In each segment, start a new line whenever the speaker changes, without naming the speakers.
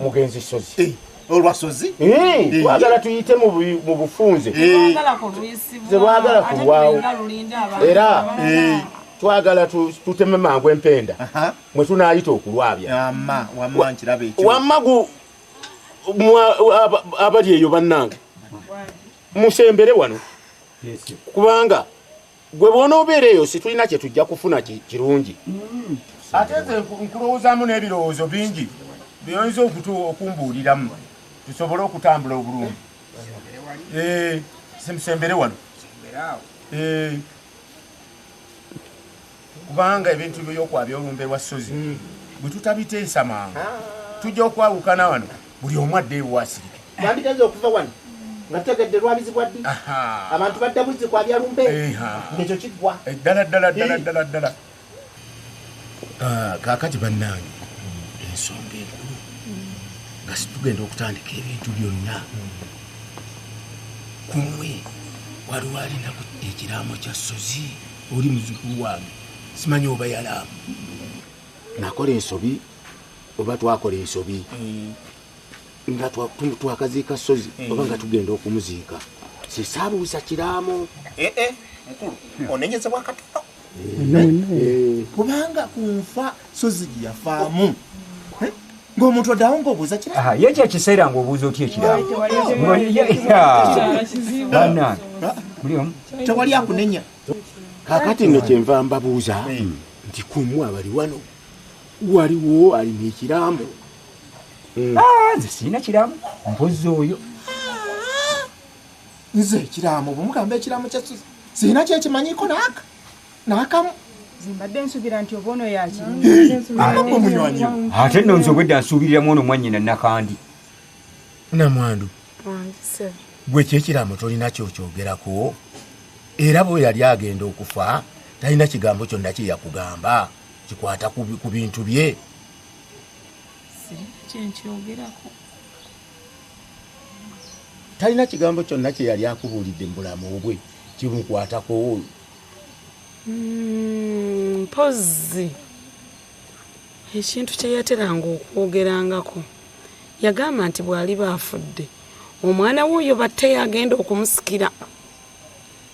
mugenzi sozi eh, olwa sozi
eh, twagala
tuyite mu bufunze zebwagala kulwawo era twagala tuteme mangu empenda mwe tunayita okulwabya wammagu abali eyo bannange musembere wano kubanga gwe bw'onoobeera eyo situlina kye tujja kufuna kirungi hmm. ate nze nkulowoozaamu n'ebirowoozo bingi byoyinza okutu okumbuuliramu tusobole okutambula obulungi eh, simusembere wano eh, kubanga ebintu byokwabya olumbe lwa ssozi hmm. bwe tutabiteesa mangu ah. tujja okwawukana wano buli omu adde ewo asirike bambigaze okuva wano
nga tutegedde lwabizibwa ddi abantu badda buzzi kwa byalumbe ngekyo kiggwa eh, ddala ddala ddala ddala
ddala ah, kakati bannange ensonga enkulu nga situgenda okutandika ebintu byonna kumwe waliwo alina ekiraamo kya sozi oli muzukulu wange simanyi oba yalaamu nakola ensobi oba twakola ensobi mm. nga twakaziika sozi mm. oba nga tugenda okumuziika sisaabuusa kiraamo eh, eh, mukulu
hmm. onenyeza bwakatono eh, kubanga ku nfa sozi gye yafaamu ng'omuntu oddawo ng'obuuza kira ye ekyo ekiseera ng'obuuza
otya ekiraamo
tewali akunenya kakati
nno kyenva mbabuuza hmm. nti kumwe abali wano waliwo alina ekiraamo hmm.
ah, nze sirina kiraamo mpozi oyo ah,
nze ekiraamo bwemugamba ekiraamo kya sirina kyekimanyiko naaka naakamu zimbadde
nsubira nti oba ono yaki ate no nze obwedde
asuubiriramu ono mwanyina nakandi
namwandu gwe kyekiraamo tolina kyokyogerako era bwe yali agenda okufa talina kigambo kyonna kyeyakugamba kikwata ku bintu bye kyenkyogerako talina kigambo kyonna kye yali akubuulidde mu bulamu bwe kimukwatako hmm,
mpozi ekintu kye yateranga okwogerangako yagamba nti bw'aliba afudde omwana w'oyo batte yagenda okumusikira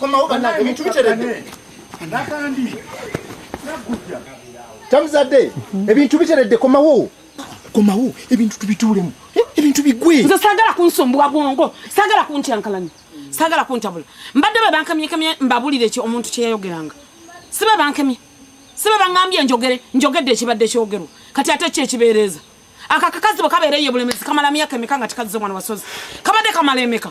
komawo banange ebintu biteredde tamuzadde ebintu biteredde komawo komawo ebintu tubituulemu ebintu bigwe nze sagala kunsumbuwa
bwongo sagala kuntyankalanya sagala kuntabula mbadde be bankamyekamye mbabulire ki omuntu kyeyayogeranga si be bankemye si be baŋambye njogere njogedde ekibadde kyogerwa kati ate ki ekibeereeza akakakazi bwe kabeereyo bulemezi kamala myaka emeka nga tikazze omwana wasozi kabadde kamala emeka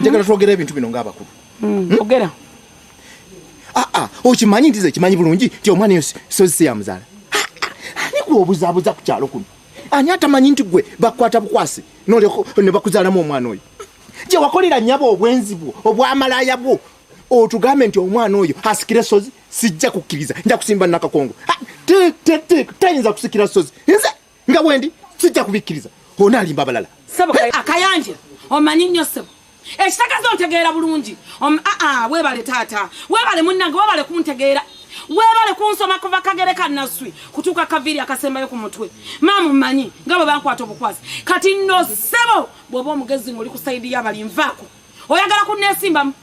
njagala twogera ebintu bino ng'abakulu hmm, hmm? ogera
aa ah, ah,
okimanyi nti ze kimanyi bulungi nti omwana eyo sozi si yamuzaala ani gwe obuzabuza ku kyalo kuno ani atamanyi nti gwe bakukwata bukwasi ne bakuzaalamu omwana oyo gye wakolera nyabo obwenzi bwo obwamalaya bwo otugambe nti omwana oyo asikire sozi sijja kukkiriza nja kusimba nakakongo tayinza kusikira sozi nze nga wendi sijja
kubikkiriza
ona alimba abalala
akayanja
omanyi
nnyo
sebo
ekitagaza ontegeera bulungi aa webale taata webale munnange webale kuntegeera webale kunsoma kuva kagere kanaswi kutuuka kaviiri akasembayo ku mutwe maamu mmanyi nga bwe bankwata obukwasi kati no sebo bw'oba omugezi ng'oli ku sayidi y'abali nvaako oyagala kunneesimbamu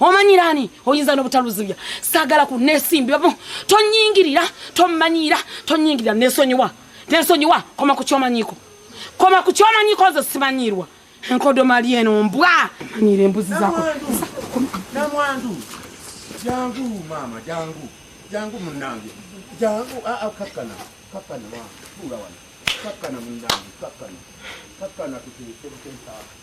omanyira ani oyinza nobutaluzibya sagala ku nesimbyamu tonyingirira tomanyira tonyingirira nesonyiwa nesonyiwa koma ku kyomanyiko koma ku kyomanyiko nze simanyirwa enkodo mali eno mbwa manyira embuzi zako namwandu
jangu mama jangu jangu munange jangu aa ah, ah, kakana kakana wa ula wana kakana munange kakana kakana tuteekebuteekaa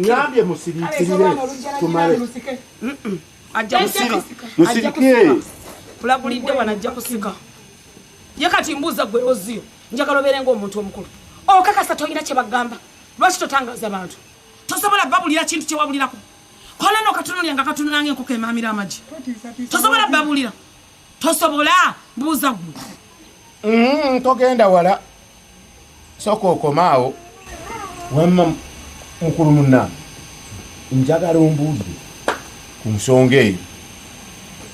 ngambye
musirikirire tumale musirikire kulagulidde
wano ajja kusika ye kati mbuuza gwe oziyo njagala obeere ngaomuntu omukulu okakasa tolina kyebagamba lwaki totangaza bantu tosobola babulira kintu kyewabulirako kola no katono lyanga katono nange enkoko emamira amagi tosobola babulira tosobola buuza gwe mm, togenda wala
soka okomaawo wamma mukulu munna njagala ombuuzi ku nsonga eyo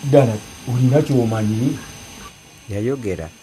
ddala olina kyomanyi yayogera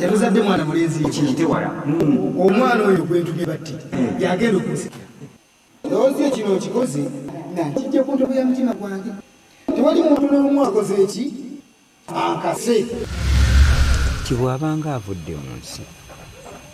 tebuzadde mwana mulenzi yekitewala
hmm. omwana
oyo gwentumye batti hmm. yagenda okunsikira lowoozi yo kino okikoze nakijja ku ntobo ya mutima gwange tewali muntu n'omu akoze eki akase
tibwabanga avudde mu nsi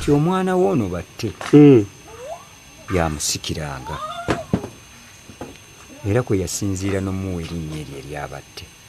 ti omwana
wo ono batte hmm. yamusikiranga era kwe yasinziira n'omuwa erinnya eryo eryabatte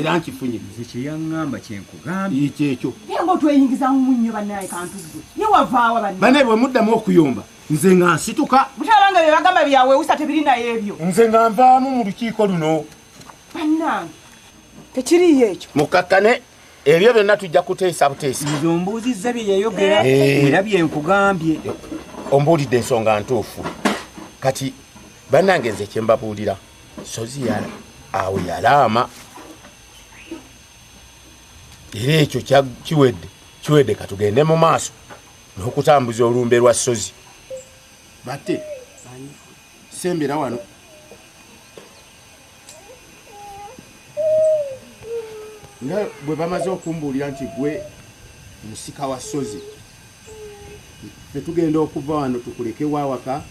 era nkifunye nze kyeyaŋŋamba
kyenkugambye ekyo ekyo naye nga
otweyingiza
mu nnyo banaye kantuggwe ye wavaawa bana banaye bwe muddamu okuyomba
nze nga nsituka butabanga bye bagamba
byawewusa tebiri naye ebyo nze nga nvaamu mu
lukiiko luno bannange
tekiriyo ekyo mukakkane
ebyo byonna tujja kuteesa buteesa nze ombuuzizza bye
yayogera eh. era bye nkugambye ombuulidde
ensonga ntuufu kati bannange nze kyembabuulira sozi awo yalaama era ekyo kiwedde kiwedde katugende mu maaso n'okutambuza olumbe lwa sozi bate sembera wano nga bwe bamaze okumbuulira nti gwe musika wa sozi fetugenda okuva wano tukuleke wawaka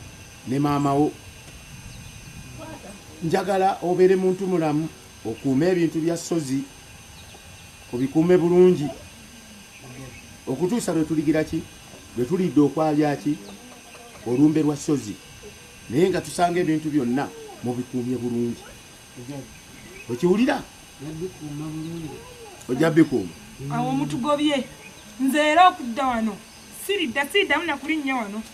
ne maama wo njagala obeere muntu mulamu okuume ebintu bya ssozi obikuume bulungi okutuusa lwe tuligira ki lwe tulidde okwabya ki olumbe lwa ssozi naye nga tusanga ebintu byonna mubikuumye bulungi okiwulira ojja bikuuma awo mutugobye
nze era okudda wano siridda siriddamu nakulinnya wano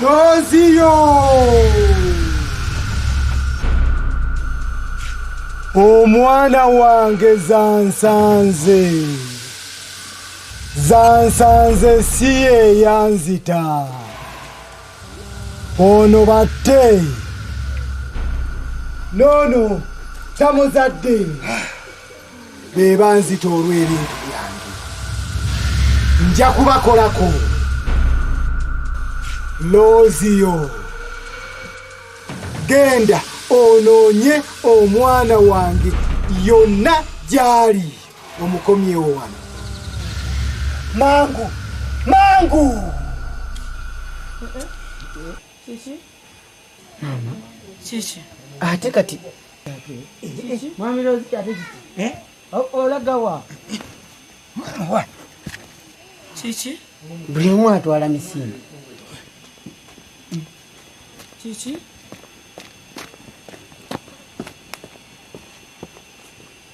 Noziyo! Omwana wange zansanze. Zansanze si ye yanzita. Ono batte. Nono tamuzadde. be banzita olw'ebintu byange nja kubakolako looziyo genda onoonye omwana wange yonna gy'ali omukomyewo wano mangu mangu
Mama. Kiki? Ate kati.
Mwami Rozi ate kiki? Eh? Olagawa. Wa.
Kiki? Buli omu
atwala misinde.
Kiki?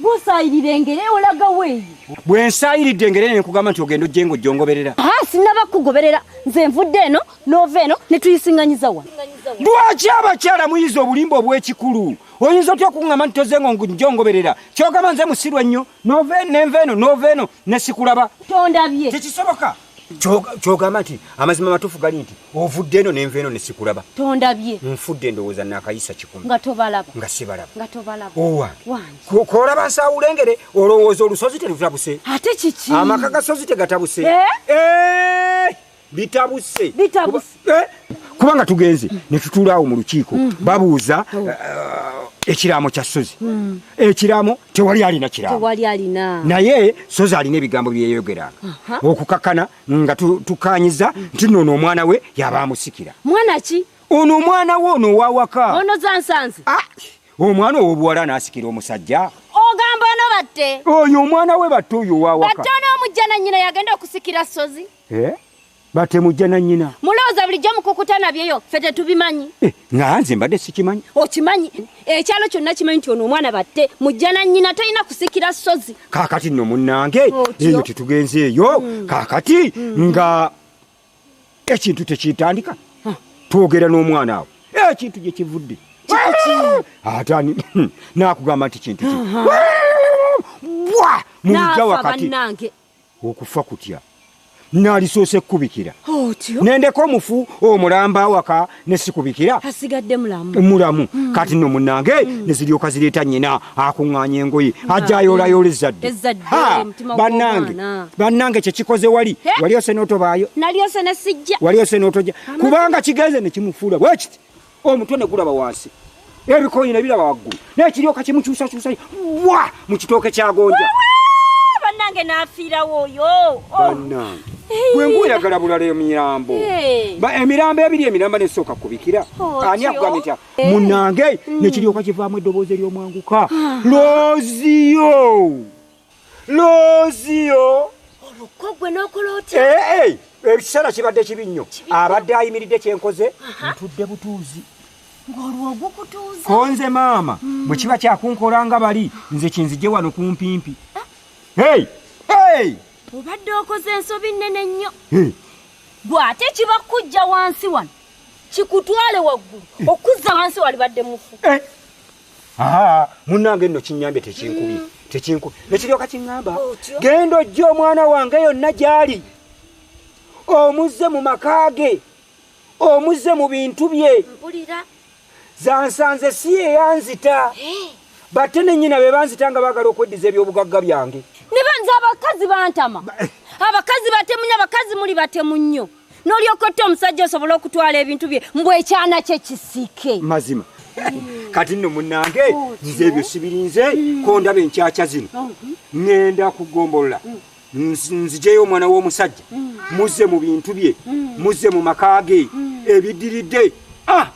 bw'osaayirira engere olaga weeyi bwe nsaayiridde
engere ne nkugamba nti ogenda ojje ng'ojjongoberera haa sinaba kugoberera
nze nvudde eno n'ova eno ne tuyisiŋŋanyiza wa lwaki
abakyala muyiza obulimba obw'ekikulu oyinza otya okuŋŋamba nti toze ngo njongoberera kyogamba nze musiru ennyo n'ova eno n'enva eno n'ova eno ne sikulaba tondabye tekisoboka kyogamba nti amazima matuufu gali nti ovudde eno nenva eno nesikulaba tondabye nfudde
endowooza
nakayisa kikumi nga tobalaba nga
sibalaba nga
tobalaba owa kolaba
nsawulengere
olowooza olusozi terutabuse ate kiki amaka
gasozi tegatabuse
eh? Eh! bitabuse bitabuse eh, kubanga tugenze ne tutuula awo mu lukiiko mm. babuuza oh. eh, ekiraamo kya sozi mm. ekiraamo tewali alina kiraamo naye sozi alina ebigambo byeyogeranga okukakana nga tukanyiza mm. nti noono omwana we yaba amusikira mwana ki
ono omwana we
ono owawaka ono zansanze
ah, omwana
owobuwala anasikira omusajja ogamba ono
batte oyo omwana we batte
oyo owawaka batte ono omujja nanyina
yagenda okusikira sozi eh? batemu
jja na nnyina mulowooza bulijjo mukukuta
nabyeyo ffe tetubimanyi eh, nga nze mbadde
sikimanyi okimanyi
ekyalo kyonna kimanyi nti ono omwana batte mujja na nnyina talina kusikira ssozi kaakati nno munnange
eyo tetugenze eyo hmm. kaakati hmm. nga ekintu tekitandika twogera n'omwana awo ekintu gye kivudde ate ani hmm, nakugamba nti kintu ki bwa mu lujja wakati okufa kutya nalisoose kukubikira nendeka omufu omulamba awaka nesikubikira asigadde mulamu
mulamu mm.
kati no munange mm. neziryoka zireeta nyina akuŋŋanya engoye ajja ayoolayoola ezzadde bannange bannange kyekikoze wali wali ose notobaayo nali ose nesijja
wali ose notoja
kubanga kigenze nekimufuula bwekiti omutwe ne gulaba wansi ebikoyi ne biraba waggulu naye kiryoka kimukyusakyusa wa mu kitooke kyagonja bannange
n'afiirawo oyo oh. bannange
gwe nguyagala bulala emirambo emirambo ebiri emiramba nesooka kubikira oh, ani akugambye tya eh. munange hmm. nekiryoka kivaamu eddoboozi eryomwanguka ah. loziyo looziyo
olukko gwe n'okola otya eh, eh, ekiseera
kibadde kibi nnyo abadde ayimiridde kyenkoze ntudde butuuzi
konze maama
hmm. bwe kiba kyakunkola nga bali nze kinzije wano kumpimpi eh?
obadde okoze ensobi nnene nnyo gwe ate kiba kujja wansi wano kikutwale waggulu okuzza wansi walibadde mufu Aha,
munange nno kinyambye tekinkubi mm. tekinkubi nekiryoka kiŋŋamba genda ojja omwana wange yonna gy'ali omuzze mu maka ge omuzze mu bintu bye
zansanze
si yeyanzita eh. batte ne nnyina be banzita nga baagala okweddiza ebyobugagga byange ne banza abakazi
bantama eh. abakazi batemunyo abakazi muli batemu nnyo nolyoka otta omusajja osobola okutwala ebintu bye mbu ekyana kye kisike mazima
kati nno munange oh, nze ebyo sibirinze hmm. kondaba enkyakya zino oh, hmm. ŋenda kugombolola hmm. nzijeyo omwana w'omusajja muzze mu bintu bye muzze mu maka ge ebiddiridde ah!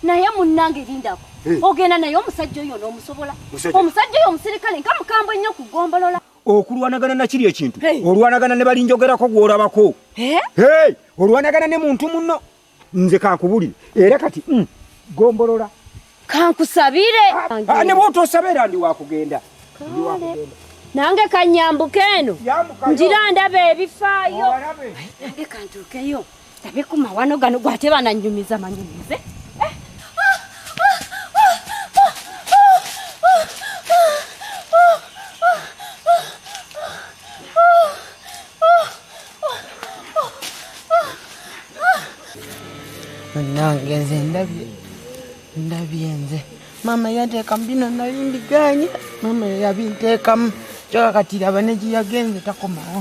naye munange lindako eh. ogenda naye omusajja oyo n'omusobola omusajja oyo omusirikale nka mukambwe nnyo kugombolola okulwanagana nakiri
ekintu olwanagana ne balinjogerako gwolabako olwanagana ne muntu muno nze kankubulire era kati mm, gombolola kankusabire
ah, ah, ne
bwotosaba era ndi wakugenda
nange kanyambuka eno njira ndaba ebifaayo Tabe ku mawano gano gwate bananyumiza manyumize.
nange nze ndabye ndabye nze maama yanteekamu bino nali mbiganye maama yabinteekamu kyoka kati laba negiyagenze takomawo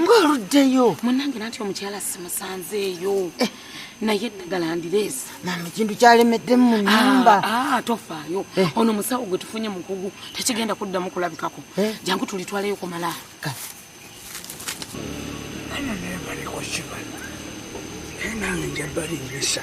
ng'oluddeyo munange
nanti omukyala
simusanzeeyo eh. naye eddagala ndireesi mama ekintu
kyalemeddemu mu ah, nyumba ah, tofaayo eh.
ono musawo gwe tufunye mukugu tekigenda kuddamu kulabikako eh. jangu tulitwaleyo kumala nange njabali
mbisa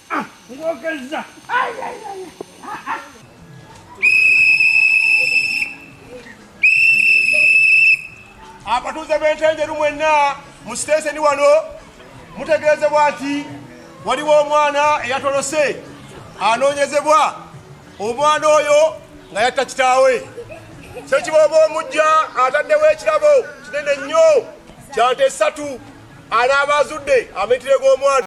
Ah, ngogeza.
Ay ay ay. Ah ah. Abatuuze b'entenjeru mwenna mu sitenseni wano mutegeezebwa nti waliwo omwana eyatolose anoonyezebwa omwana oyo nga yatta kitaawe kyekibooba omujja ataddewo ekirabo kinene nnyo kyante esatu anaaba azudde amitire g'omwana